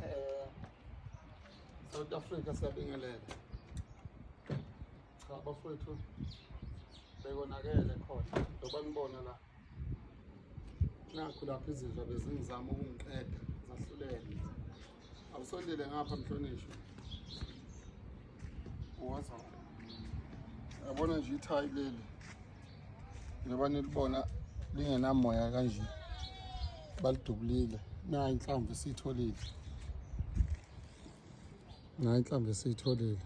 Eh, South Africa siyabingelela cha bafowethu bekonakele khona njengoba nibona la nakhu lapho izidla bezingizama ukungiqeda zahlulele awusondele ngapha mhlonishwa uwaza yabona nje ithayi leli njengoba nilibona lingenamoya kanje balidubulile nayo inhlamvu esiyitholile nayo inhlamvu esiyitholile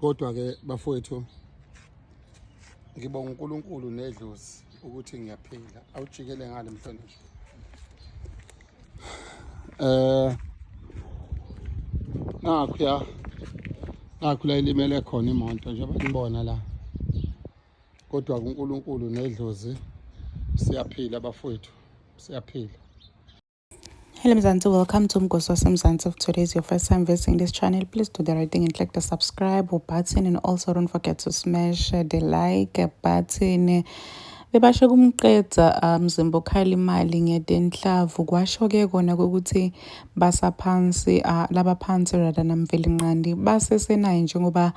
kodwa-ke bafowethu ngibonga uNkulunkulu nedlozi ukuthi ngiyaphila awujikele ngale mhlonishwa eh nakho ya nakho la ilimele khona imoto njengoba nibona la kodwa kuNkulunkulu nedlozi siyaphila bafowethu siyaphila Hello Mzansi, welcome to Mgosi waseMzansi. If today is your first time visiting this channel, please do the right thing and click the subscribe button and also don't forget to smash the like button. bebasho kumqeda mzimba um, okhala imali ngedenhlavu kwasho-ke kona kokuthi basaphansi uh, laba phansi rather namvelinqandi basesenaye njengoba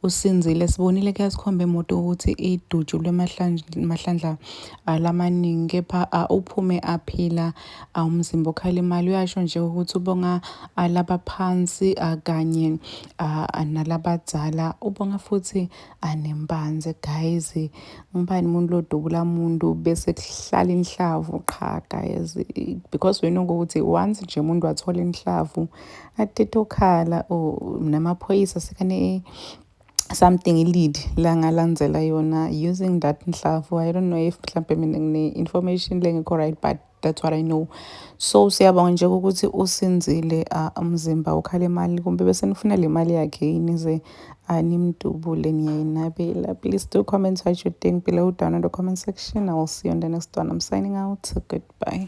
usinzile sibonile kuyasikhomba emoto ukuthi idutshulwe mahlandla alamaningi kepha uphume aphila umzimba okhala imali uyasho nje ukuthi ubonga laba phansi kanye nalabadzala ubonga futhi anembanze guys ngubani umuntu lodubula muntu bese kuhlala inhlavu qha guys because we know ukuthi once nje umuntu wathola inhlavu atete okhala or namaphoyisa sekane something lead la ngalandzela yona using that nhlavu i don't know if mhlawumbe mina ngine-information lengekho right but that's what i know so siyabonga nje ukuthi usinzile uh, umzimba ukhala imali kumbe bese nifuna le mali yakhe yini ze animdubule niyayinabela please do comment what you think below down in the comment section i will see you on the next one i'm signing out goodbye